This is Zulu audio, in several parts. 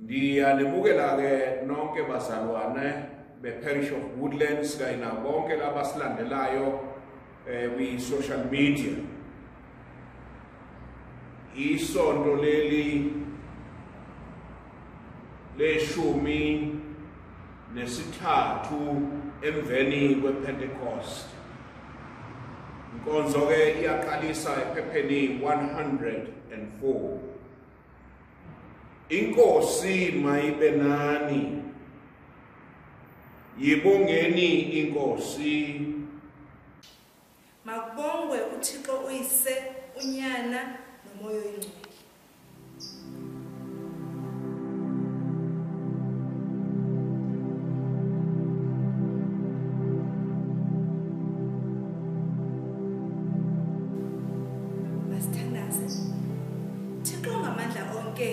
Ndiyanemukela-ke nonke bazalwane be-parish of Woodlands kanye nabo bonke laba silandelayo eh, kwi-social media. Isonto leli leshumi nesithathu emveni kwePentecost. Inkonzo-ke iyaqalisa ephepheni 104. Inkosi mayibe nani. Yibongeni inkosi. Makubongwe uThixo uyise unyana nomoya oyingcwele. Thixo ongamandla onke,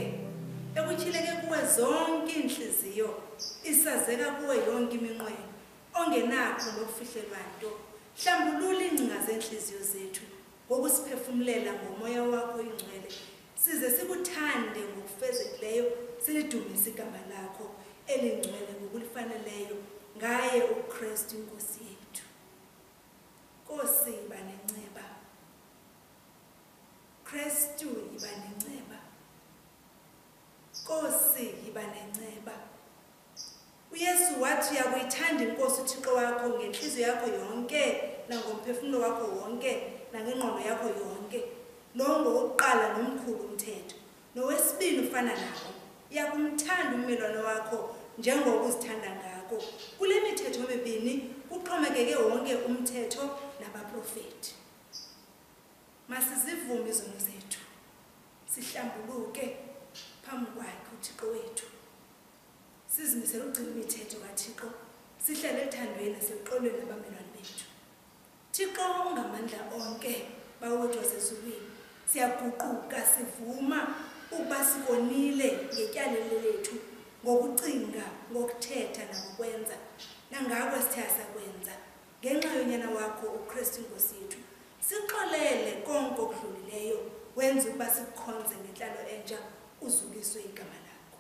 ekutyhileke kuwe zonke iintliziyo, isazeka kuwe yonke iminqweno, ongenakho nokufihlelwa nto, hlambulula iingcinga zeentliziyo zethu ngokusiphefumlela ngomoya wakho oyingcwele, size sikuthande ngokufezekileyo, silidumise igama lakho elingcwele ngokulifaneleyo ngaye uKristu iNkosi yethu. Nkosi, yiba nenceba. Kristu yiba nenceba. Nkosi yiba nenceba. UYesu wathi uyakuyithanda iNkosi uThixo wakho ngenhliziyo yakho yonke nangomphefumulo wakho wonke nangengqondo yakho yonke. Lowo ngowokuqala nomkhulu umthetho. Nowesibili ufana nawo. Uyakumthanda ummelwane wakho njengoba uzithanda ngako. Kule mithetho mibini kuxhomekeke wonke umthetho nabaprofethi. Masizivume izono zethu, sihlambuluke phambi kwakhe uThixo wethu. Sizimisele ukugcina imithetho kaThixo, sihlale ethandweni naseluxolweni nabamelwane bethu. Thixo ungamandla onke, Bawo wethu wasezulwini, siyaguquka sivuma ukuba sikonile ngetyalelo lethu ngokucinga, ngokuthetha nangokwenza, nangako esithe asakwenza. Ngenxa yonyana wakho uKristu iNkosi yethu, Sixolele konke okudlulileyo wenza ukuba sikukhonze ngenhlalo entsha uzukiswe igama lakho.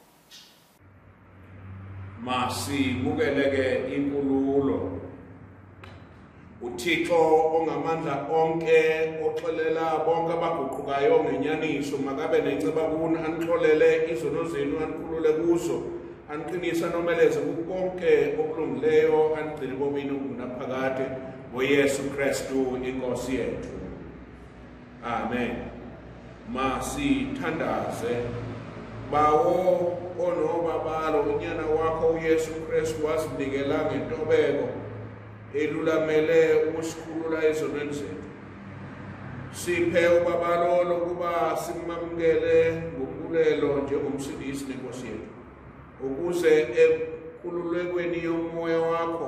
Masibukele ke inkululo. UThixo ongamandla onke oxolela bonke abaguqukayo ngenyaniso makabe nenceba kuni anixolele izono zenu anikhulule kuzo aniqinise anomeleze kukonke okulungileyo anigcine komini okunaphakade ngoyesu kristu inkosi yethu amen masithandaze bawo onobabalo unyana wakho uyesu kristu wasinikela ngentobeko elulamele ukusikhulula ezonweni zethu siphe ubabalolo ukuba simamukele ngombulelo njengomsindisi nenkosi yethu ukuze ekululekweni yomoya wakho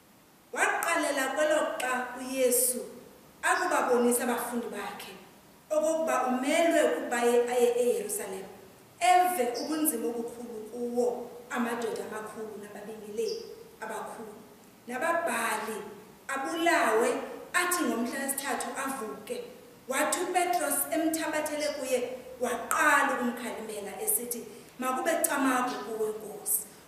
Waqalela kweloxa uYesu akubabonisa abafundi bakhe okokuba umelwe ukuba aye eYerusalem, eve ubunzima obukhulu kuwo amadoda amakhulu nababingeleli abakhulu nababhali, abulawe, athi ngomhla wesithathu avuke. Wathi uPetros emthabathele kuye, waqala ukumkhalimela, esithi, Makube camagu kuwe, Nkosi!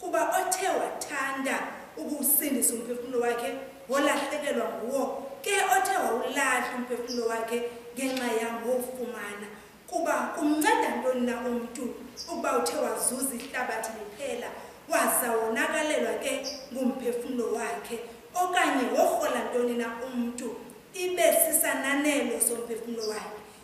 Kuba othe wathanda ukuwusindisa umphefumulo wakhe wolahlekelwa nguwo, ke othe wawulahla umphefumulo wakhe ngenxa yam wowufumana. Kuba kumnceda ntoni na umntu ukuba uthe wazuza ihlabathi liphela, waza wonakalelwa ke ngumphefumulo wakhe? Okanye worhola ntoni na umntu, ibe sisananelo somphefumulo wakhe?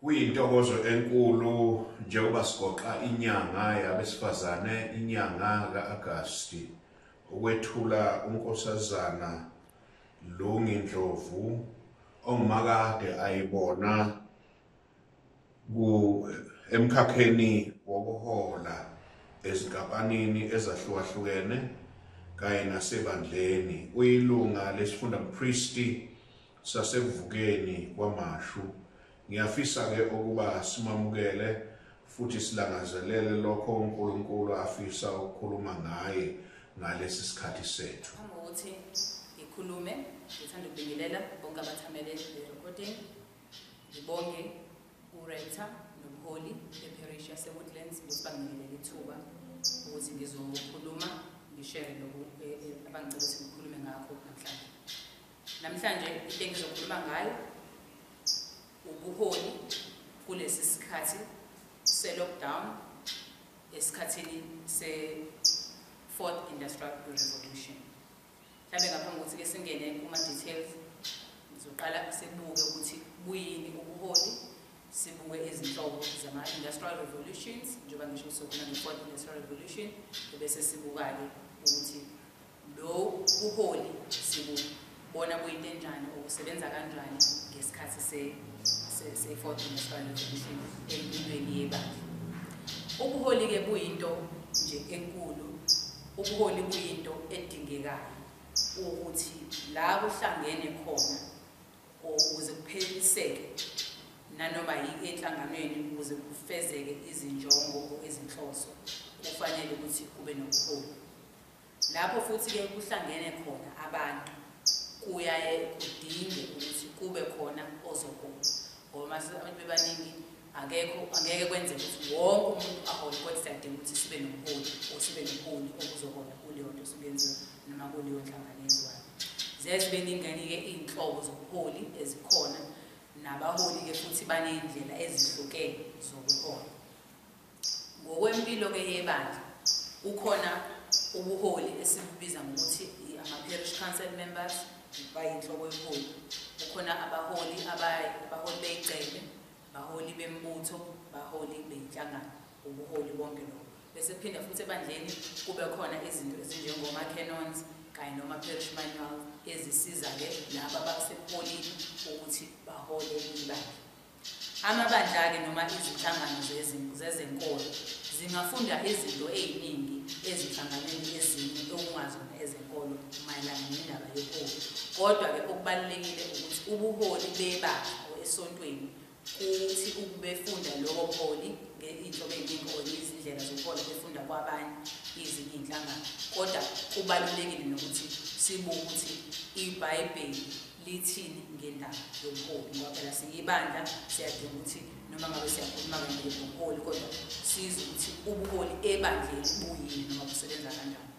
Kuyintokozo enkulu njengoba sigoqa inyanga yabesifazane inyanga ka-Agasti ukwethula uNkosazana Lungi Ndlovu ongumakade ayibona ku emkhakheni wokuhola ezinkampanini ezahlukahlukene kanye nasebandleni uyilunga lesifunda mpristi sasekuvukeni kwamashu. Ngiyafisa ke ukuba simamukele futhi silangazelele lokho uNkulunkulu afisa ukukhuluma ngaye ngalesi sikhathi sethu. Ngicabanga ukuthi ngikhulume, ngithanda ukubingelela bonke abathamele le-recording. Ngibonge uRector nomholi beparish yaseWoodlands ukuthi banginikele ithuba ukuthi ngizokhuluma ngishere lokhu eh, eh, abangicela ukuthi ngikhulume ngakho namhlanje. Namhlanje into engizokhuluma ngayo ubuholi kulesi sikhathi se-lockdown esikhathini se-fourth industrial revolution mhlawumbe ngaphambi kokuthi ke singene kuma-details ngizoqala sibuke ukuthi buyini ubuholi sibuke izinhlobo zama-industrial revolutions njengoba ngisho sokhona ne-fourth industrial revolution ebese sibuka-ke ukuthi Lo buholi sibubona kuyinto enjani okusebenza kanjani ngesikhathi se-fourth se, se municipal revolution empilweni yebandla. Ubuholi-ke buyinto nje enkulu, ubuholi buyinto edingekayo ukuthi la kuhlangene khona ukuze kupheliseke nanoma yini enhlanganweni ukuze kufezeke izinjongo ezinhloso kufanele ukuthi kube nobuholi Lapho futhi-ke kuhlangene khona abantu kuyaye kudinge ukuthi kube khona ozokuma ngoba uma abantu bebaningi akekho angeke kwenze ukuthi wonke umuntu ahole kodwa siyadinga ukuthi sibe nomholi or sibe nomholi okuzohola kuleyo nto osuke yenziwa noma kuleyo nhlangano yenziwayo ziyaye zibe ningenike iy'nhlobo zobuholi ezikhona nabaholi-ke futhi baney'ndlela ezihlukene zokuhola Ngokwempilo ke yebandla kukhona ubuholi esibubiza ngokuthi ama-parish council members bayinhloko yeholi kukhona abaholi abaholi beyigcele baholi bembutho baholi beyinhlangano ubuholi bonke lobo bese phinda futhi ebandleni kube khona izinto ezinjengoma-canons kanye noma-parish manual ezisiza-ke laba abasebuholini ukuthi bahole ibandla Amabandla-ke noma izinhlangano zezenkolo zingafunda izinto eziningi ezinhlanganweni ezinye okungazona ezenkolo mayelana nendaba yobuholi. Kodwa-ke okubalulekile ukuthi ubuholi bebandla esontweni kuthi ukubefunda lobo buholi ngey'nhlobo ey'ningi or izindlela zokuhola befunda kwabanye izinye iy'nhlangano kodwa kubalulekile nokuthi sibuke ukuthi ibhayibheli lithini ngendaba yobuholi ngoba phela siyibandla siyadinga ukuthi noma ngabe siyakhuluma kanje ngobuholi kodwa sizwe ukuthi ubuholi ebandleni buyini noma busebenza kanjani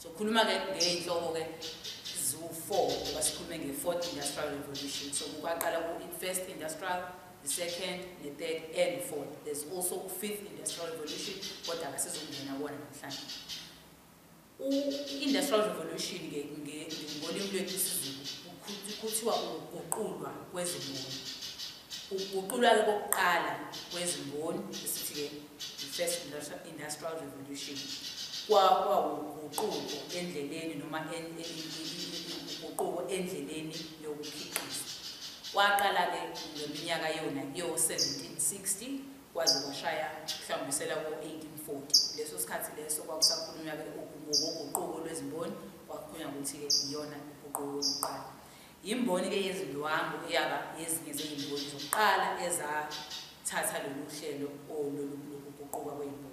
sokhuluma-ke ngey'nhloko-ke ziwu-four ngoba sikhulume nge-fourth industrial revolution so kukwaqala ku-first industrial the second the third and fourth there's also u-fifth industrial revolution kodwa kasizongena kona namhlanje U-Industrial Revolution ngolimi lwethu isiZulu kuthiwa ukuguqulwa kwezimboni. Ukuguqulwa-ke kokuqala kwezimboni esithi-ke i-First Industrial Revolution kwawuguquko endleleni noma uguquko endleleni yokukhiqiza. Kwaqala-ke ngeminyaka yona yo-1760 kwaze kwashaya hlambisela ko-1840 leso sikhathi leso kwakusakhulunywa-ke ngokoguquko lwezimboni kwakukhulunywa ukuthi-ke iyona uguquko lokuqala yimboni-ke yezindwangu eyaba yezinye zezimboni zokuqala ezathatha lolu hlelo lokuguquka kwezimboni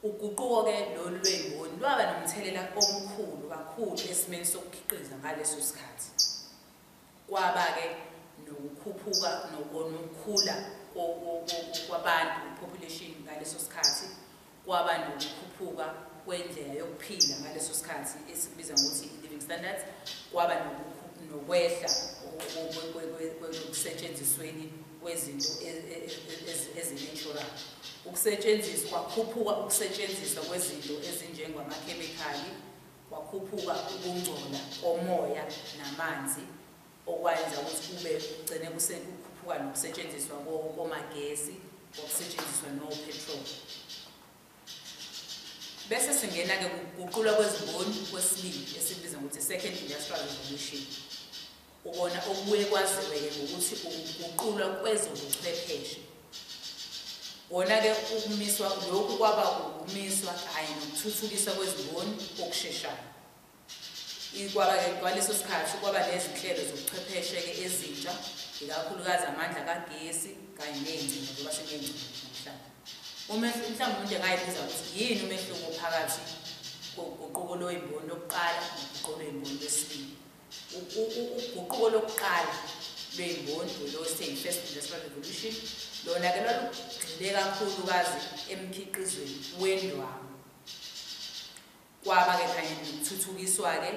uguquko-ke lolu lwezimboni lwaba nomthelela omkhulu kakhulu esimeni sokukhiqiza ngaleso sikhathi Kwaba-ke nokukhuphuka nokukhula kwabantu, population, ngaleso sikhathi, kwaba nokukhuphuka kwendlela yokuphila ngaleso sikhathi esikubiza ngokuthi i-living standards, kwaba nokwehla okusetshenzisweni kwezinto e, e, e, ezinatural ukusetshenziswa kwakhuphuka ukusetshenziswa kwezinto ezinjengwamakhemikhali Kwakhuphuka ukungcola komoya namanzi okwayenza ukuthi kube kugcine kusekhuphuka nokusetshenziswa komagesi okusetshenziswa no-petrol. Bese singena-ke kuguqulwa kwezimboni kwesibili esibiza ngokuthi second industrial revolution. Ukona okubuye kwaziweke ngokuthi ukuguqulwa kwezobuchwepheshe wona-ke ukumiswa lokhu kwaba ukumiswa kanye nokuthuthukiswa kwezimboni okusheshayo kwaba-ke kwaleso sikhathi kwaba nezinhlelo zobuchwepheshe-ke ezintsha ikakhulukazi amandla kagesi kanye ney'ngcingo ngoba siney'ngcingo namhlanje umehluko mhlawumbe umuntu engayibuza ukuthi yini umehluko phakathi koguquko lweyimboni lokuqala noguquko lweyimboni lwesibili uguquko lokuqala lwey'mboni ulose yi-first industrial revolution lona-ke lwalugxile kakhulukazi emkhiqizweni wendwangu kwaba-ke kanye nokuthuthukiswa-ke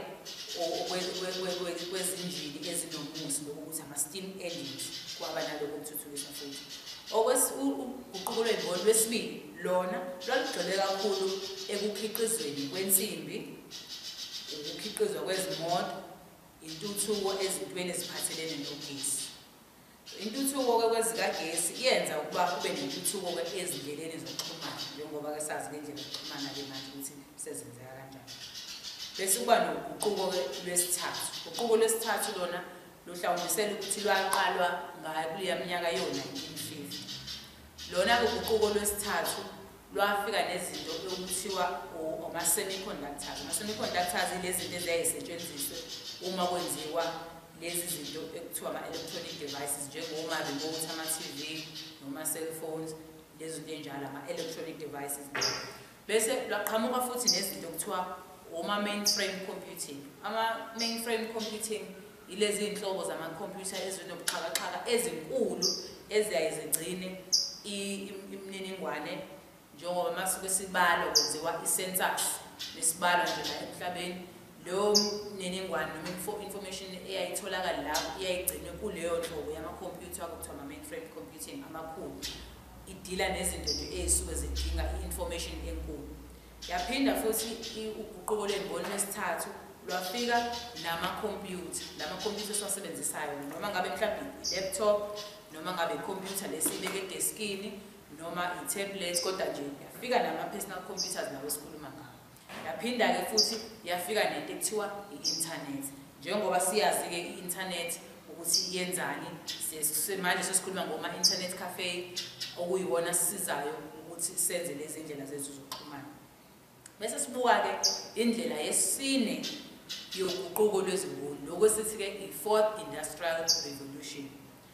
kwezinjini ezinomusi lokhu ukuthi ama-steam engines kwaba nalokho kuthuthukiswa futhi uguquko lwey'mboni lwesibili lona lwalugxile kakhulu ekukhiqizweni kwensimbi ukukhiqizwa kwezimoto, intuthuko ezintweni eziphathelene nogesi. Intuthuko-ke kwezikagesi iyenza ukuba kube nentuthuko-ke ezindleleni zokuxhumana njengoba-ke sazi ngendlela yokuxhumana-ke manje ukuthi sezenzeka kanjani. Bese kuba noguquko-ke lwesithathu. Uguquko lwesithathu lona luhlawumbisela ukuthi lwaqalwa ngayo kuleya minyaka yo-1950. Lona-ke uguquko lwesithathu lwafika nezinto okuthiwa ama-semiconductors ama-semiconductors ilezinto eziyayisetshenziswe uma kwenziwa lezi zinto ekuthiwa ama-electronic devices njengoma-remote ama-tv noma-cellphones lezi zinto enjalo ama-electronic devices bese lwaqhamuka futhi nezinto okuthiwa oma-mainframe computing ama-mainframe computing Yilezi zinhlobo zamakhompyutha ezinobuxhakaxhaka ezinkulu eziyaye zigcine imininingwane njengoba masuke sibalo kwenziwa i-census nesibalo nje la emhlabeni leyo mininingwane noma information eyayitholakala lapho iyayigcinwe kuleyo nhlobo yamakhompyutha kuthiwa ama-mainframe computing amakhulu idila nezinto nje ezisuke zidinga i-information enkulu Yaphinda futhi uguquko lwemboni lwesithathu lwafika namakhompyutha lamakhompyutha esiwasebenzisayo noma ngabe mhlawumbe i-laptop noma ngabe ikhompyutha lesiyibeke edeskini noma i-tablet kodwa nje yafika nama-personal computers nawo esikhuluma ngawo yaphinda-ke futhi yafika nento ekuthiwa i-inthanethi Njengoba siyazi-ke i-internet ukuthi yenzani, manje sesikhuluma ngoma-internet cafe okuyiwona sisizayo ukuthi senze lezi ndlela zethu zokuxhumana. Bese sibuka-ke indlela yesine yoguquko lwezimboni, lokhu esithi-ke i-fourth industrial revolution.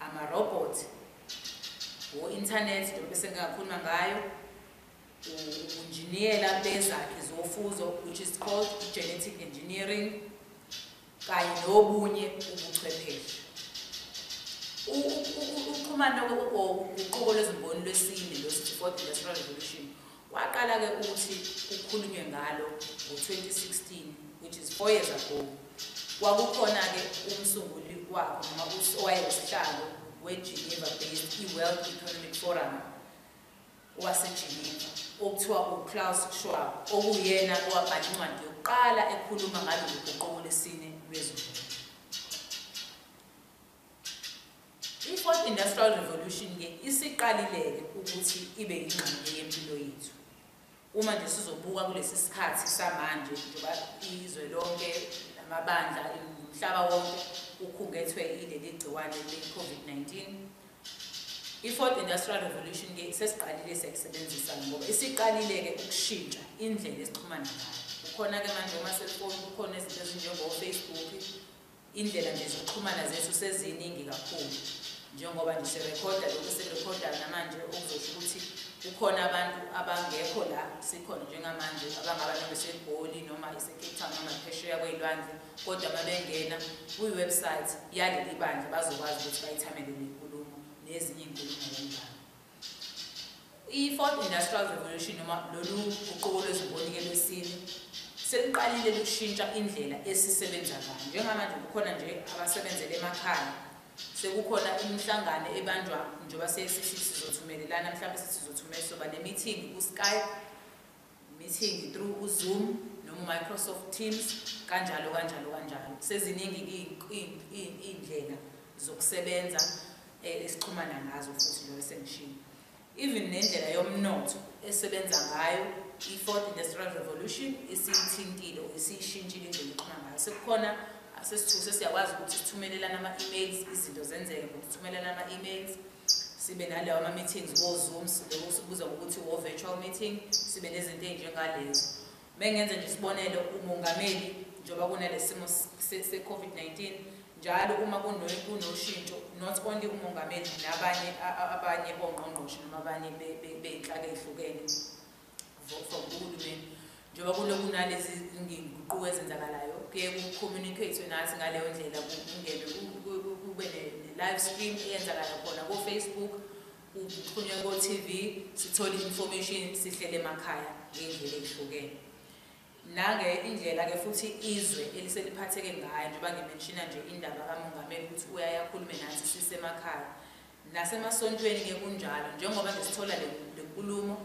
amarobhothi, o-inthanethi njengoba esengingakhuluma ngayo, ubunjiniyela bezakhi zofuzo which is called i-genetic engineering kanye nobunye ubuchwepheshe. Ukuxhumana koguquko lwezimboni lwesine lwesi-fourth industrial revolution Waqala ke ukuthi kukhulunywe ngalo ngo-2016 which is four years ago. Kwakukhona-ke umsunguli wakho noma owayewusihlalo we-Geneva based i-World Economic Forum waseGeneva okuthiwa uClaus Schwab okuyena owabhala incwadi yokuqala ekhuluma ngalolu guquko lesine lwezulu. I-Fourth Industrial Revolution-ke isiqalile-ke ukuthi ibe yingxenye yempilo yethu. Uma nje sizobuka kulesi sikhathi samanje njengoba izwe lonke namabandla umhlaba wonke ukhungethwe ileli gciwane le-COVID-19, i-Fourth Industrial Revolution-ke sesiqalile siyakusebenzisa ngoba isiqalile-ke ukushintsha indlela esixhumana ngayo. Kukhona-ke manje oma-cellphone, kukhona izinto ezinjengo-Facebook, Indlela nje zokuxhumana zethu seziningi kakhulu njengoba nje sirekhoda lokhu esirekhodayo namanje okuzosho ukuthi kukhona abantu abangekho la sikhona njengamanje abangaba noma iseGoli noma iseCape Town noma phesheya kwey'lwandle kodwa uma bengena kwi-website yaleli bandla bazokwazi ukuthi bayithamele nenkulumo nezinye iy'nkulumo ngomdlalo I-Fourth Industrial Revolution noma lolu guquko lwezimboni-ke lwesine seluqalile lushintsha indlela esisebenza ngayo. Njengamanje kukhona nje abasebenzela emakhaya, sekukhona imihlangano ebanjwa njengoba sesithi sizothumelelana, mhlawumbe sithi sizothumela soba nemithingi ku-Skype. meeting through uZoom noma uMicrosoft Teams kanjalo kanjalo kanjalo seziningi iy'ndlela zokusebenza eh, esixhumana ngazo futhi lo esemshini even nendlela yomnotho esebenza ngayo i-fourth industrial revolution isiyithintile or isiyishintshile indlela eqhuma ngayo sekukhona sesithuke sesiyakwazi ukuthi sithumelelane ama-emails izinto zenzeke ngokuthumelelana ama-emails sibe nalawa ama-meetings ko-zoom sibe sikubuza ngokuthi wo-virtual meeting sibe nezinto ey'njengalezo uma ngenza nje isibonelo umongameli njengoba kunale simo se-covid-19 njalo uma kunoshintsho not only umongameli nabanye abanye bongqongqoshe noma abanye bey'nhlaka ey'hlukene for kuhulumeni njengoba kulokhu kunalezi nginguquko ezenzakalayo kuye kucommunicatwe nathi ngaleyo ndlela kungene kube ne-live stream eyenzakala khona kofacebook kuxhunywe ko-tv sithole i-information sihlele emakhaya ngey'ndlela ey'hlukene nange indlela-ke futhi izwe eliseliphatheke ngayo njengoba ngimenshina nje indaba kamongameli ukuthi uyayakhulume nathi sisemakhaya Nasemasontweni ke kunjalo njengoba nje sithola le nkulumo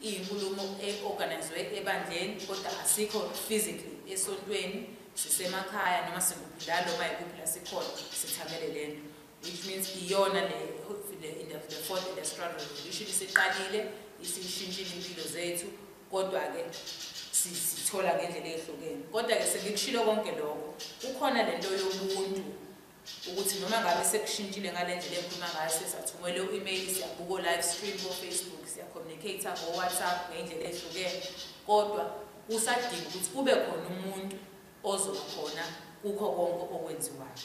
iyinkulumo e-organizwe ebandleni kodwa asikho physically esontweni sisemakhaya noma sikuphi noma yikuphi la sikhona sithamele le nto which means iyona le the fourth industrial revolution isiqalile isishintshile impilo zethu kodwa-ke sithola ngendlela ehlukene kodwa-ke sengikushilo konke lokho kukhona le nto yobuntu ukuthi noma ngabe sekushintshile ngale ndlela engikhuluma ngayo sesathumele u-email siyabuka o-live stream ko-facebook siyacommunicate-a ngo-whatsapp ngey'ndlela ehlukene kodwa kusadinga ukuthi kube khona umuntu ozokhona kukho konke okwenziwayo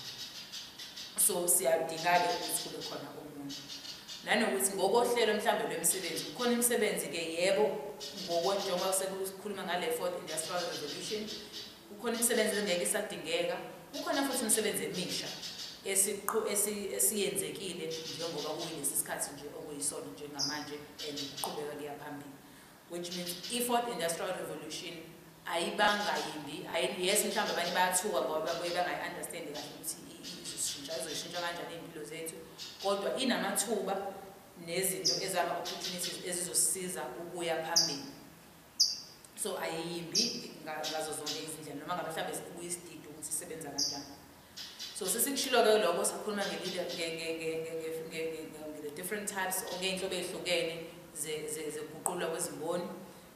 so siyadinga-ke ukuthi kube khona umuntu nanokuthi ngokohlelo mhlawumbe lwemisebenzi kukhona imisebenzi-ke yebo ngokonjengoba sekukhuluma ngale fourth industrial revolution Kukhona imisebenzi engeke isadingeka, kukhona futhi imisebenzi emisha esiyenzekile njengoba kuyilesi sikhathi nje okuyisona njengamanje and kuqhubeka kuya phambili which means i-fourth industrial revolution ayibanga yimbi yes mhlawumbe abanye bayathuka ngoba babuye bangayi-understandi kahle ukuthi izoshintsha izoshintsha kanjani iy'mpilo zethu kodwa inamathuba nezinto ezama-opportunities ezizosiza ukuya phambili so ayiyimbi ngazo zonke izindlela noma ngabe mhlawumbe sikubuye isididi ukuthi isebenza kanjani so sesikushilo-ke lokho sikhuluma nge-the different types okeyinhlobo ezihlukene zeguqulwa kwezimboni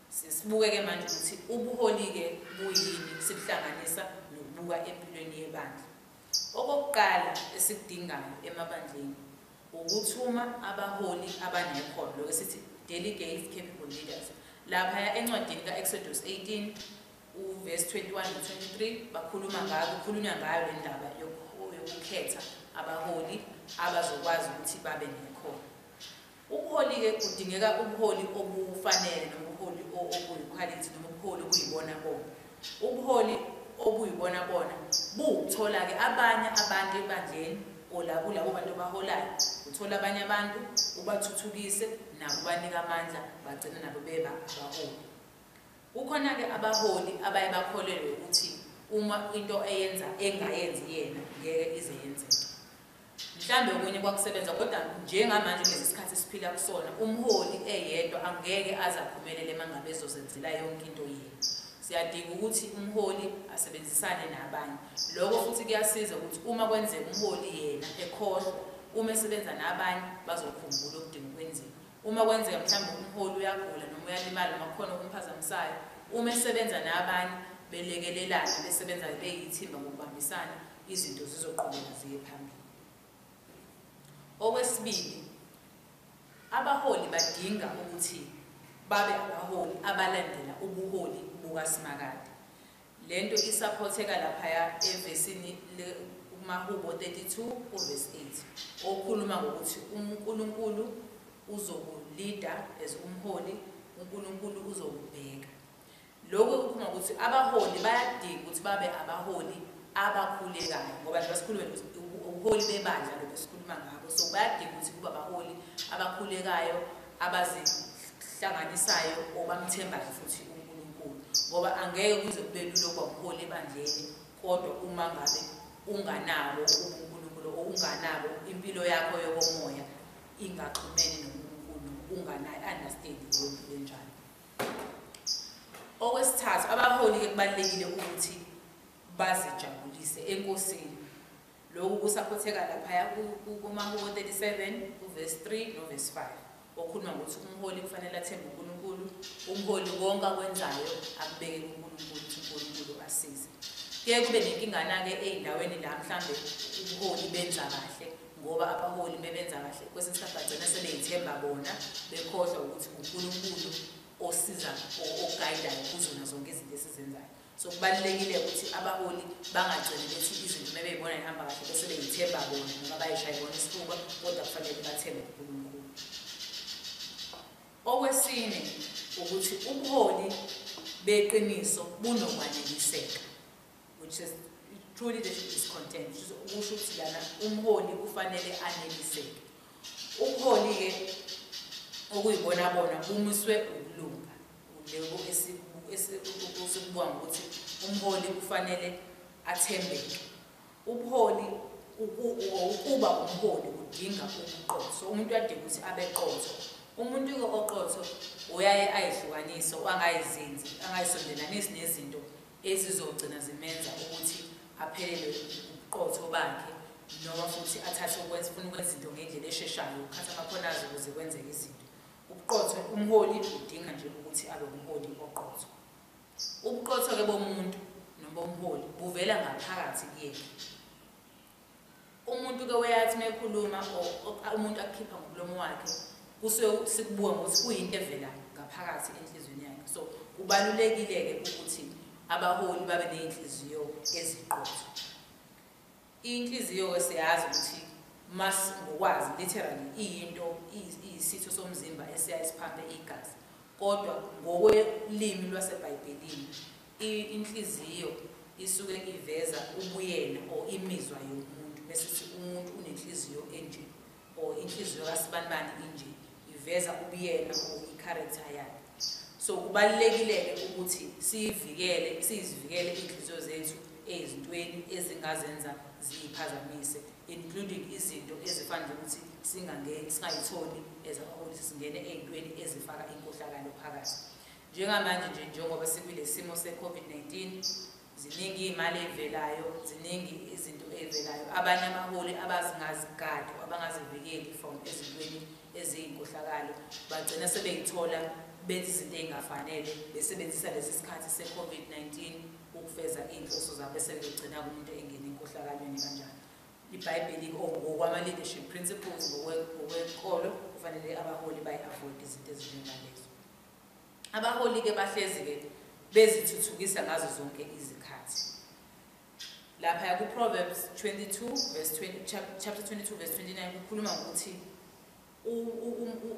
sibuke-ke manje ukuthi ubuholi-ke buyini sibuhlanganisa nokubuka empilweni yebandla okokuqala esikudingayo emabandleni Wukuthuma abaholi abanekhono, lokhu esithi delegates, capable leaders. Laphaya encwadini ka-Eksodusi 18 uvesi 21 no-23 bakhuluma ngayo, kukhulunywa ngayo le ndaba yokukhetha abaholi abazokwazi ukuthi babe nekhono. Ubuholi-ke kudingeka ubuholi obufanele noma ubuholi obuyikhwalithi noma ubuholi obuyibona bona. Ubuholi obuyibona bona buwukuthola-ke abanye abantu ebandleni or la kulabo bantu obaholayo uthola abanye abantu ubathuthukise nabo ubanika amandla bagcine nabo beba abaholi kukhona-ke abaholi abaye bakholelwe ukuthi uma into eyenza engayenzi yena ngeke ize yenzeke Mhlambe okunye kwakusebenza kodwa njengamanje kulesi sikhathi esiphila kusona umholi eyedwa angeke aze aphumelele mangabe ezozenzela yonke into yini. Siyadinga ukuthi umholi asebenzisane nabanye. Lokho futhi kuyasiza ukuthi uma kwenzeka umholi yena ekhohlwa uma esebenza nabanye bazokhumbula okudinga ukwenziwa. Uma kwenzeka mhlawumbe umholi uyagula noma uyalimala noma kukhona okumphazamisayo, uma esebenza nabanye belekelelana besebenza beyithimba ngokubambisana izinto zizoqhubeka ziye phambili. Okwesibili, abaholi badinga ukuthi babe abaholi abalandela ubuholi bukaSimakade. Le nto isaphotheka laphaya evesini kumahubo 32 kuvesi 8 okhuluma ngokuthi uNkulunkulu uzokulida as umholi uNkulunkulu uzokubheka Lokhu kukhuluma ukuthi abaholi bayadinga ukuthi babe abaholi abakhulekayo ngoba njengoba sikhulume ubuholi bebandla lokhu sikhuluma ngabo so bayadinga ukuthi kuba abaholi abakhulekayo abazihlanganisayo obamthembayo futhi uNkulunkulu ngoba angeke kuze kube lula ukuba umholi ebandleni kodwa uma ngabe unganabo ubuNkulunkulu okunganabo impilo yakho yokomoya ingaxhumene noNkulunkulu unganayo understanding yempilo enjalo Okwesithathu, abaholi-ke kubalulekile ukuthi bazijabulise enkosini. Lokhu kusaphotheka laphaya kuMahubo 37 kuvesi 3 novesi 5 okhuluma ngokuthi umholi kufanele athembe uNkulunkulu, umholi konke akwenzayo akubeke kuNkulunkulu ukuthi uNkulunkulu asize. Kuye kube nenkingana-ke ey'ndaweni la mhlawumbe ubuholi benza kahle ngoba abaholi mebenza kahle kwesinye isikhathi bagcina sebeyithemba bona bekhohlwa ukuthi ngunkulunkulu osiza oguidayo kuzona zonke izinto esizenzayo so kubalulekile ukuthi abaholi bangagcini bethi izinto uma beyibona ihamba kahle bese beyithemba bona noma bayishaye bona isifuba kodwa kufanele bathembe unkulunkulu okwesine ukuthi ubuholi beqiniso bunokwaneliseka which is truly this is content kusho ukuthi lana umholi kufanele aneliseke ubuholi-ke okuyibona bona bumiswe ukulunga leku esikubonga ukuthi umholi kufanele athembeke ubuholi ukuba umholi kudinga ubuqotho umuntu uyadinga ukuthi abe qotho umuntu oqotho uyaye ayihlukanise angayizinzi angayisondelanisi nezinto ezizogcina zimenza ukuthi aphelelwe ubuqotho bakhe noma futhi athathe ukwenza funa ukwenza izinto ngendlela esheshayo ukukhatha amakhono azo ukuze kwenzeke izinto ubuqotho umholi udinga nje ukuthi abe umholi oqotho ubuqotho-ke bomuntu noma umholi buvela ngaphakathi kuyena Umuntu ke weyathi mekhuluma umuntu akukhipha ngomlomo wakhe kusuke sikubuka ngokuthi kuyinto evela ngaphakathi enhlizweni yakhe so kubalulekile ke ukuthi abaholi babe nezinhliziyo eziqotho inhliziyo ke siyazi ukuthi mas ngokwazi literally iyinto iyisitho somzimba esiya isiphambe igazi kodwa ngokwelimi lwaseBhayibhelini Inhliziyo isuke iveza ubuyena or imizwa yomuntu mesithi umuntu unenhliziyo enje or inhliziyo kasibanibani inje iveza ubuyena or i-character yakhe so kubalulekile-ke ukuthi siyivikele siyizivikele iy'nhliziyo zethu ezintweni ezingazenza ziyiphazamise including izinto ezifana nokuthi singangeni singayitholi as abaholi singene ey'ntweni ezifaka inkohlakalo phakathi Njengamanje nje njengoba sikwilesimo seCovid-19 ziningi imali evelayo, ziningi izinto evelayo. Abanye abaholi abazingazigadi abangazivikeli from ezintweni eziyinkohlakalo bagcina sebeyithola benza izinto ezingafanele besebenzisa lesi sikhathi seCovid-19 ukufeza inhloso zabo sebegcina kumuntu engena inkohlakalweni kanjani. IBhayibheli ngokwama leadership principles ngokwenkolo kufanele abaholi bayi-avoid izinto ezinjengalezo. Abaholi-ke bahlezi-ke bezithuthukisa ngazo zonke izikhathi. Laphaya kuProverbs 22 verse 20, chapter 22 verse 29 kukhuluma ngokuthi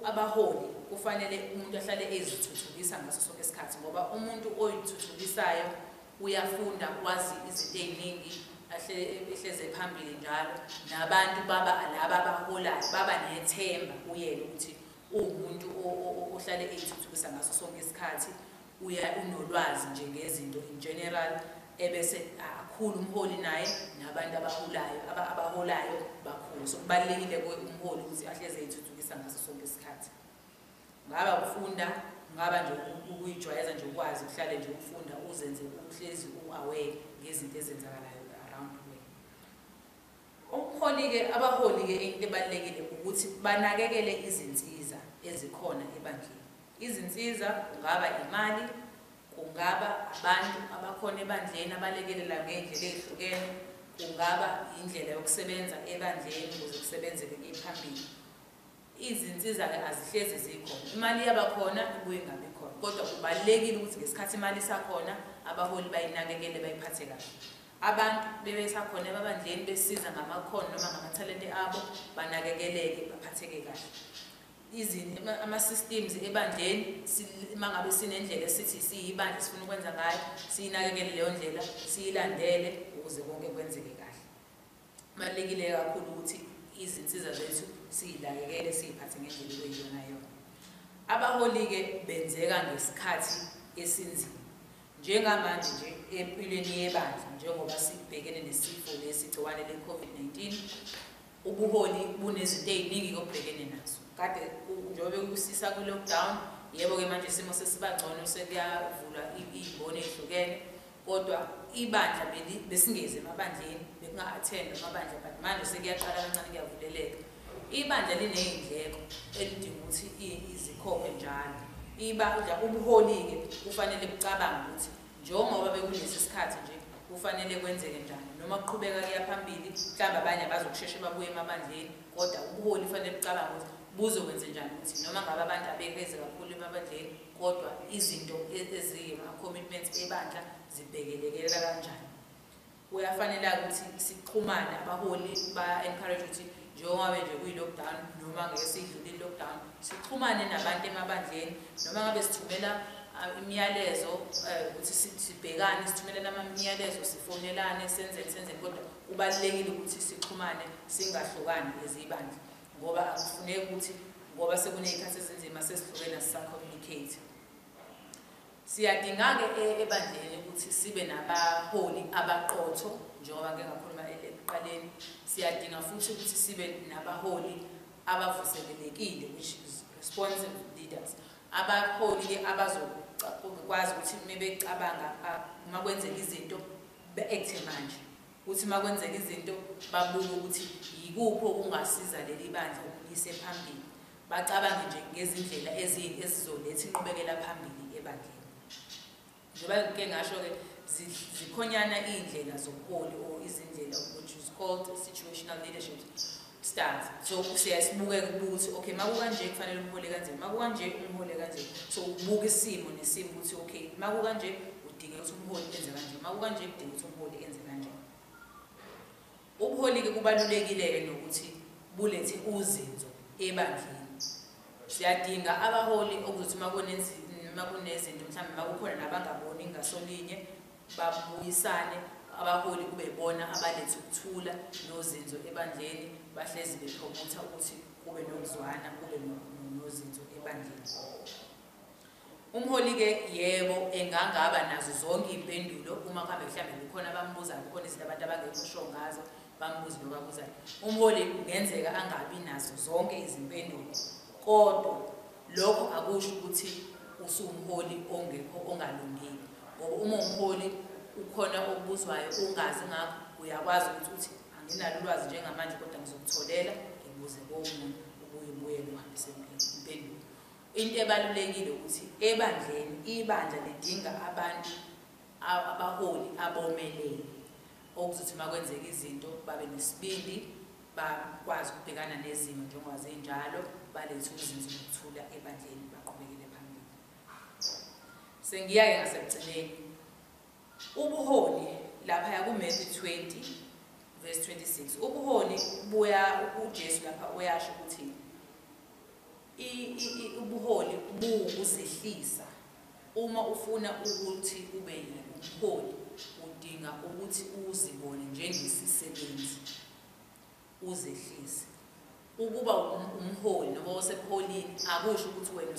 abaholi kufanele umuntu ahlale ezithuthukisa ngaso sonke isikhathi ngoba umuntu oyithuthukisayo uyafunda kwazi izinto ey'ningi ehleze phambili njalo nabantu baba laba abaholayo baba nethemba kuyena ukuthi Uwumuntu ohlale eyithuthukisa ngaso sonke isikhathi, uya unolwazi nje ngezinto in general ebese akhulu umholi naye nabantu abaholayo abaholayo bakhulu so kubalekile kuwe umholi ukuthi ahleze ithuthukisa ngaso sonke isikhathi ngaba ukufunda ngaba nje ukuyijwayeza nje ukwazi uhlale nje ukufunda uzenze uhlezi uaware ngezinto ezenzakalayo Umholi ke abaholi ke into ebalulekile ukuthi banakekele izinsiza ezikhona ebandleni. Izinsiza kungaba imali, kungaba abantu abakhona ebandleni abalekelela ngey'ndlela ey'hlukene, kungaba indlela yokusebenza ebandleni ukuze kusebenzeke kuye phambili. Izinsiza-ke azihlezi zikhona, imali iyaba khona ibuye ingabi khona kodwa kubalulekile ukuthi ngesikhathi imali isakhona abaholi bayinakekele bayiphathe kahle. Abantu bebesakhona ebabandleni besiza ngamakhono noma ngamathalente abo banakekeleke baphatheke kahle. Ama-systems ebandleni uma ngabe sinendlela esithi siyibandla sifuna ukwenza ngayo, siyinakekele leyo ndlela, siyilandele ukuze konke kwenzeke kahle. Kubalulekile kakhulu ukuthi izinsiza zethu siyilayekele siyiphathe ngendlela okuyiyona yona. Abaholi-ke benzeka ngesikhathi esinzima. Njengamanje nje empilweni yebandla njengoba sibhekene nesifo lesi gciwane le-COVID-19 ubuholi bunezinto eziningi obhekene nazo kade njengoba bekusisa kwi-lockdown yebo-ke manje isimo sesiba ngcono sekuyavulwa iy'mboni ey'hlukene Kodwa ibandla beli besingezi emabandleni bekunga attend amabandla but manje sekuyaqala kancane kuyavuleleka. Ibandla linezindleko elidinga ukuthi izikhokhe njalo. Ibandla ubuholi ke kufanele bucabange ukuthi njengoba bekulesi sikhathi nje kufanele kwenzeke njani noma kuqhubeka kuya phambili mhlawumbe abanye abazokusheshe babuye emabandleni kodwa ubuholi kufanele bucabanga ukuthi buzokwenze njani ukuthi noma ngabe abantu abekeze kakhulu emabandleni Kodwa izinto e-, eziyima-commitments ebandla zibhekelekelela kanjani? Kuyafanela ukuthi sixhumane, abaholi ba-encourage ukuthi njengoba nje kuyi-lockdown noma ngeke sidlule i-lockdown sixhumane nabantu emabandleni noma ngabe sithumela imiyalezo eh, ukuthi sibhekane sithumelele amamiyalezo sifonelane senzeni senzeni kodwa kubalulekile ukuthi sixhumane singahlukani ezibandla ngoba akufuneki ukuthi ngoba sekuney'khathi ezinzima sesihlukena sisacommunicate siyadinga-ke e-, ebandleni ukuthi sibe nabaholi abaqotho njengoba ngike ngakhuluma e-, ekuqaleni siyadinga futhi ukuthi sibe nabaholi abavuselelekile which is responsive leaders abaholi-ke abazokwazi ukuthi uma becabanga uma kwenzeka izinto be-ekthe manje Uthi uma kwenzeka izinto babuke ukuthi yikuphi okungasiza leli bandla ukulise phambili, bacabange nje ngezindlela ezizoletha inqubekela phambili ebandleni. Njengoba ngike ngasho-ke zikhonyana iy'ndlela zobuholi or izindlela which is called situational leadership stands so siyaye sibukeke ukubuka ukuthi okay makukanje kufanele umhole kanje makukanje umhole kanje so ubuka isimo nesimo ukuthi okay makukanje udinga ukuthi umholi enze kanje makukanje udinga ukuthi umholi enze kanje ubuholi-ke kubalulekile-ke nokuthi bulethe uzinzo ebandleni siyadinga abaholi okuzothi makunezinto mhlawumbe makukhona nabangaboni ngasolinye babuyisane abaholi kube bona abaletha ukuthula nozinzo ebandleni bahlezi bephomotha ukuthi kube nokuzwana kube nozinzo ebandleni umholi-ke yebo engangaba nazo zonke iy'mpendulo uma kuhambe mhlawumbe kukhona abambuzayo kukhona izinto abantu abangekusho ngazo bambuze nobabuzayo umholi kungenzeka angabi nazo zonke izimpendulo kodwa Lokho akusho ukuthi usuwumholi ongekho ongalungile ngoba uma umholi ukhona okubuzwayo ungazi ngakho uyakwazi ukuthi uthi anginalo ulwazi njengamanje kodwa ngizokutholela ngibuze komunye ubuye ubuye uhambise impendulo into ebalulekile ukuthi ebandleni ibandla lidinga abantu abaholi abomelele okuzothi uma kwenzeka izinto babe nesibindi bakwazi ukubhekana nezimo njengoba zinjalo balethe uzinzo lokuthula ebandleni baqhubekele phambili sengiyaye ngasekugcineni ubuholi lapha yakuMatthew 20 verse 26 ubuholi buya uJesu lapha uyasho ukuthi I, i, i, ubuholi buwukuzehlisa. Uma ufuna ukuthi ube umholi, udinga ukuthi uzibone njengesisebenzi, uzehlise. Ukuba um, umholi noma osebuholini akusho ukuthi wena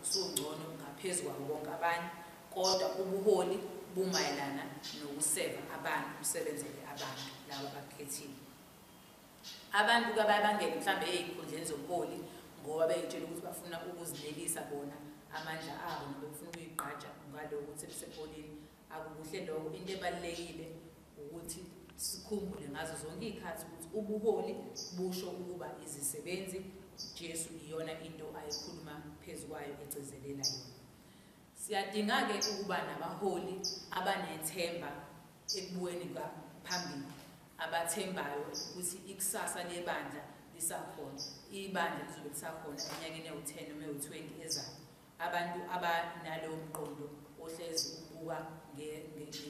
usungcono ngaphezu kwabo bonke abanye, kodwa ubuholi bumayelana nokuseva abantu, usebenzele abantu laba abakukhethile. Abantu ke abaye bangene mhlawumbe ezikhundleni zobuholi ngoba beyitshela ukuthi bafuna ukuzinelisa bona amandla abo noma befuna ukuyigqaja ngaloko ukuthi besepolini akukuhle lokho into ebalulekile ukuthi sikhumbule ngazo zonke iy'khathi ukuthi ubuholi busho ukuba izisebenzi jesu iyona into ayikhuluma phezu kwayo egcizelela yona Siyadinga-ke ukuba nabaholi abanethemba ekubukeni phambili, abathembayo ukuthi ikusasa lebandla lisakhona, ibandla lizobe lisakhona eminyakeni ewu-10 noma ewu-20 ezayo. Abantu abanalowo mqondo ohlezi ubuka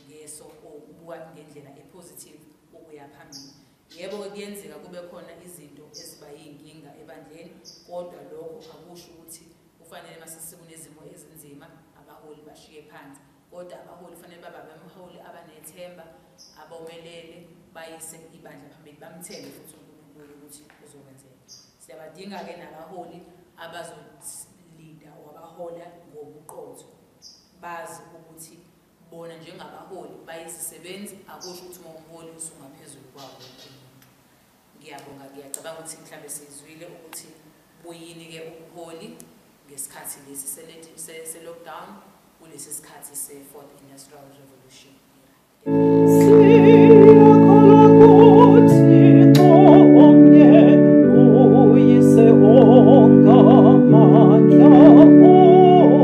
ngeso or ubuka ngendlela epositive ukuya phambili. Yebo-ke kuyenzeka kube khona izinto eziba yinkinga ebandleni kodwa lokho akusho ukuthi kufanele masesikunezimo ezinzima abaholi bashiye phansi kodwa abaholi kufanele baba bemholi abanethemba abomelele bayise ibandla phambili bamthembe futhi uNkulunkulu ukuthi uzokwenzeka siyabadinga-ke nabaholi abazolinda wabahola ngobuqotho bazi ukuthi bona njengabaholi bayizisebenzi akusho ukuthi uma umholi usungaphezulu kwawo wonke umuntu ngiyabonga ngiyacabanga ukuthi mhlawumbe sizwile ukuthi buyini-ke ubuholi ngesikhathi lesi se-lockdown kulesi sikhathi se-fourth industrial revolution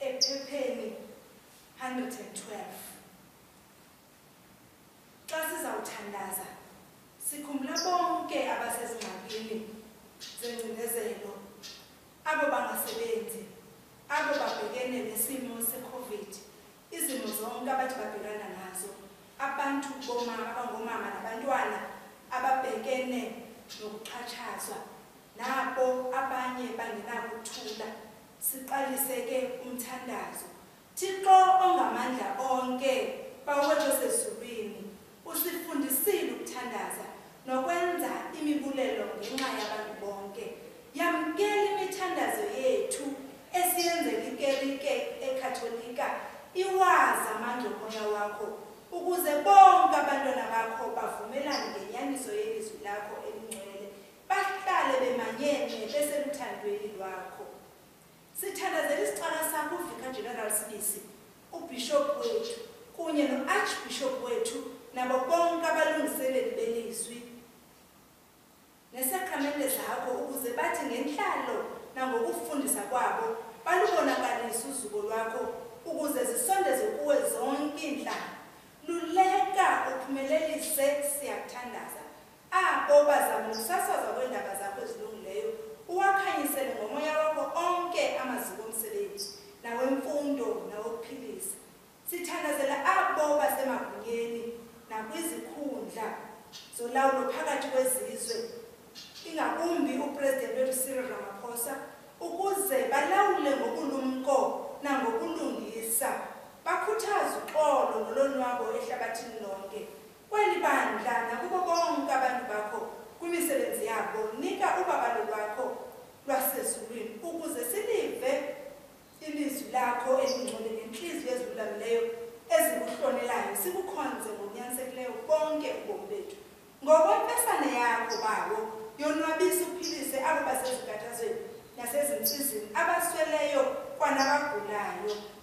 Ephepheni 112 Xa sizawuthandaza sikhumbula bonke abasezingxakini zengcinezelo, abo bangasebenzi, abo babhekene nesimo seCovid, izimo zonke abathi babhekana nazo, abantu boma abangomama nabantwana ababhekene nokuxhatshazwa, nabo abanye bangenakuthula. Siqaliseke umthandazo. Thixo ongamandla onke, Baba wethu osezulwini, usifundisile ukuthandaza nokwenza imibulelo ngenxa yabantu bonke. Yamkela imithandazo yethu esiyenze likerike eKhatholika, iwazi amandla omoya wakho, ukuze bonke abantwana bakho bavumelane ngenyaniso yelizwi lakho elingcwele Bahlale bemanyenxe beseluthandweni lwakho. Sithandazela isicaka sakho uVicar General Sibisi, uBishop wethu kunye no-Archbishop wethu nabo bonke abalungiseleli belizwi nesakramente zakho ukuze bathi ngenhlalo nangokufundisa kwabo balubonakalise uzuko lwakho ukuze zisondeze kuwe zonke iinhlanga. Luleka uphumelelise siyakuthandaza. A Baba, zama ukusasazwa kwendaba zakho ezilungileyo, uwakhanyisele ngoMoya wakho onke amaziko omsebenzi, nawemfundo, nawokuphilisa. Sithandazela a Baba semagunyeni nakwizikhundla zolawulo phakathi kwezizwe, ingakumbi uPresident wethu Cyril Ramaphosa, ukuze balawule ngobulumko nangobulungisa, bakhuthaze uxolo nolonwabo ehlabathini lonke. Kweli bandla nakubo bonke abantu bakho kwimisebenzi yabo, nika ubabalo lwakho lwasezulwini, ukuze silive ilizwi lakho elingcwele ngenhliziyo ezilulamileyo ezikuhlonelayo, sikukhonze ngokunyansekileyo bonke ubomi bethu. Ngokwempesane yakho, Bawo, yonwabisa uphilise abo basezinkathazweni nasezinsizini, abasweleyo kwanabagulayo.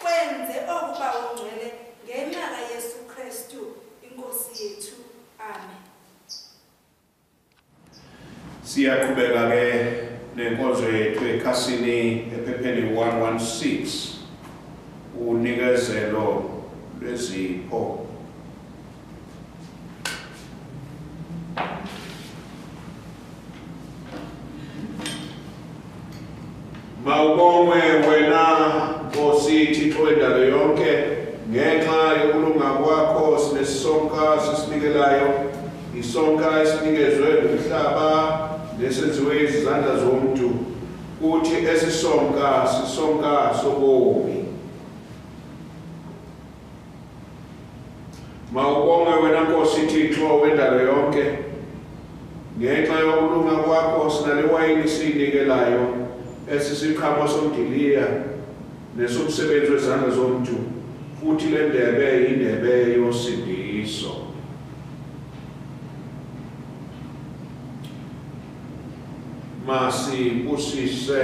Kwenze oku bawungcwele ngenxa kaYesu Kristu iNkosi yethu. Amen. Siyaqhubeka ke nenkonzo yethu ekhasini ephepheni 116 unikezelo lwezipho Mawubongwe wena Nkosi Thixo wendalo yonke ngenxa yokulunga kwakho sinesonka sisinikelayo isonka esinikezwe umhlaba nesenziwe izandla zomuntu kuthi esisonka sisonka sobomi Mawubonge wena Nkosi Thixo wendalo yonke. Ngenxa yokulunga kwakho sinale wayini siyinikelayo esisiqhamo somdiliya nesomsebenzi wezandla zomntu futhi le ndebe yindebe yosindiso. Masibusise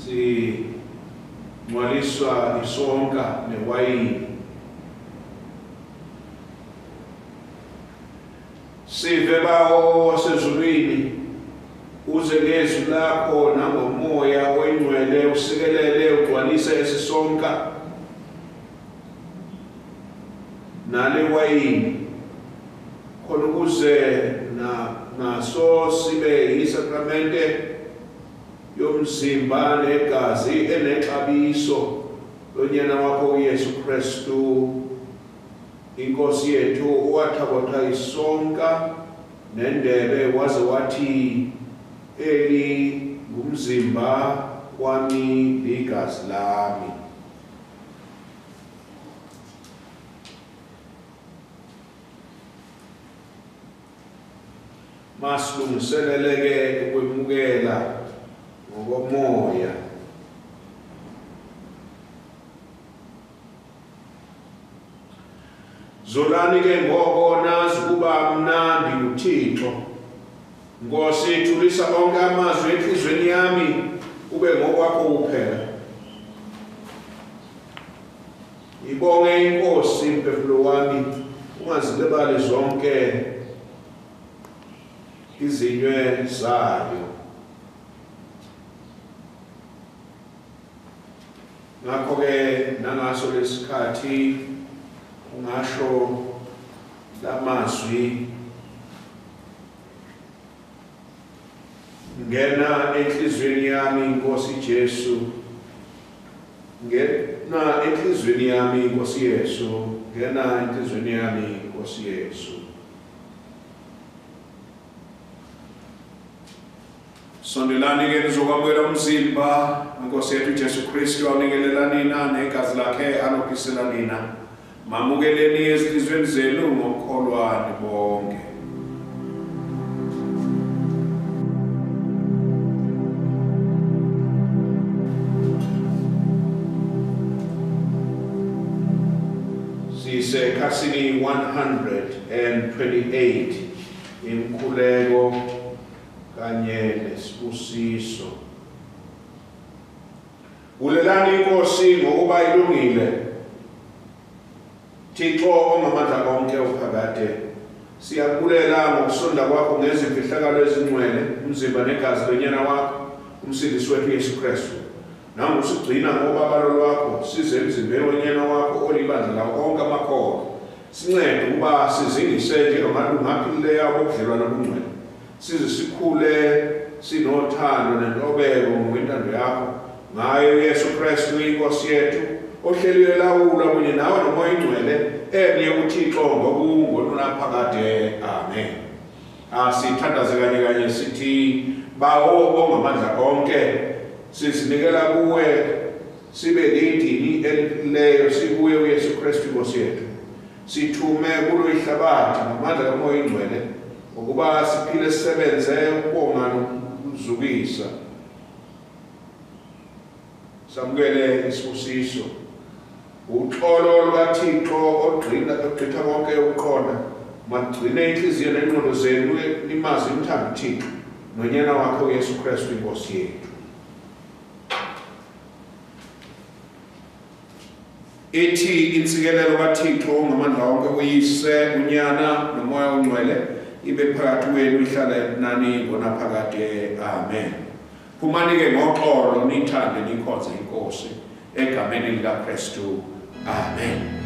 Zingcwaliswa isonka newayini. Sive bawo wasezulwini uze ngezwi lakho nangomoya oyingcwele usikelele ugcwalise esisonka nale wayini khona ukuze naso sibe yisakramente Yomzimba negazi enexabiso loNyana wakho uYesu Kristu, iNkosi yethu, owathakotha isonka nendebe waze wathi, Eli ngumzimba wami ligazi lami. Masilungiseleleke ukwemukela ngokomoya. Zolani ke ngoko nazi ukuba mnandi uThixo. Nkosi thulisa onke amazwi enhlizweni yami kube ngokwakho kuphela. Ngibonge inkosi mphefumulo wami ungazilibali zonke izinywe zayo. Ngakho-ke nangaso lesikhathi ungasho lamazwi Ngena enhlizweni yami Nkosi Jesu Ngena enhlizweni yami Nkosi Yesu Ngena enhlizweni yami Nkosi Yesu Sondelani ke nizokwamukela umzimba Nkosi yethu Jesu Kristu awunikelelani na negazi lakhe anophisela nina Mamukeleni ezinhlizweni zenu ngokukholwani bonke. Sisekhasini 128 imkhuleko kanye nesibusiso. Bulelani iNkosi ngokuba ilungile. Thixo ongamandla onke uphakade, siyakubulela ngokusonda kwakho ngezimfihlakalo ezingcwele, umzimba negazi loNyana wakho, uMsindisi wethu uYesu Kristu. Nangu usigcina ngobabalo lwakho, size emzimbeni woNyana wakho olibandla lawo onke amakholwa. Sincede ukuba sizingise njengamalungu aphilileyo abobudlelwane obungcwele. Size sikhule sinothando nentobeko ngokwentando yakho ngayo Yesu Kristu inkosi yethu ohleli elawula kunye nawe nomoya ingcwele emnye uthixo ngokungonunaphakade amen asithandaze kanye kanye sithi bawo ongamandla onke sizinikela kuwe sibe lidini eliphileyo sikuye uyesu kristu inkosi yethu Sithume kulo ihlabathi ngamandla kaMoya oyiNgcwele ukuba siphile sisebenze ukubonga nokuzukisa. Samukele isibusiso. Uxolo lukaThixo ogqina ogqitha konke ukuqonda magcine inhliziyo nengqondo zenu nimazi imthanda uThixo nonyana wakhe uYesu Kristu iNkosi yethu. Ithi insikelelo kaThixo ongamandla wonke uyise unyana nomoya ongcwele ibe phakathi kwenu ihlala nani ngonaphakade amen phumani-ke ngoxolo nithande nikhonze inkosi egameni likakristu amen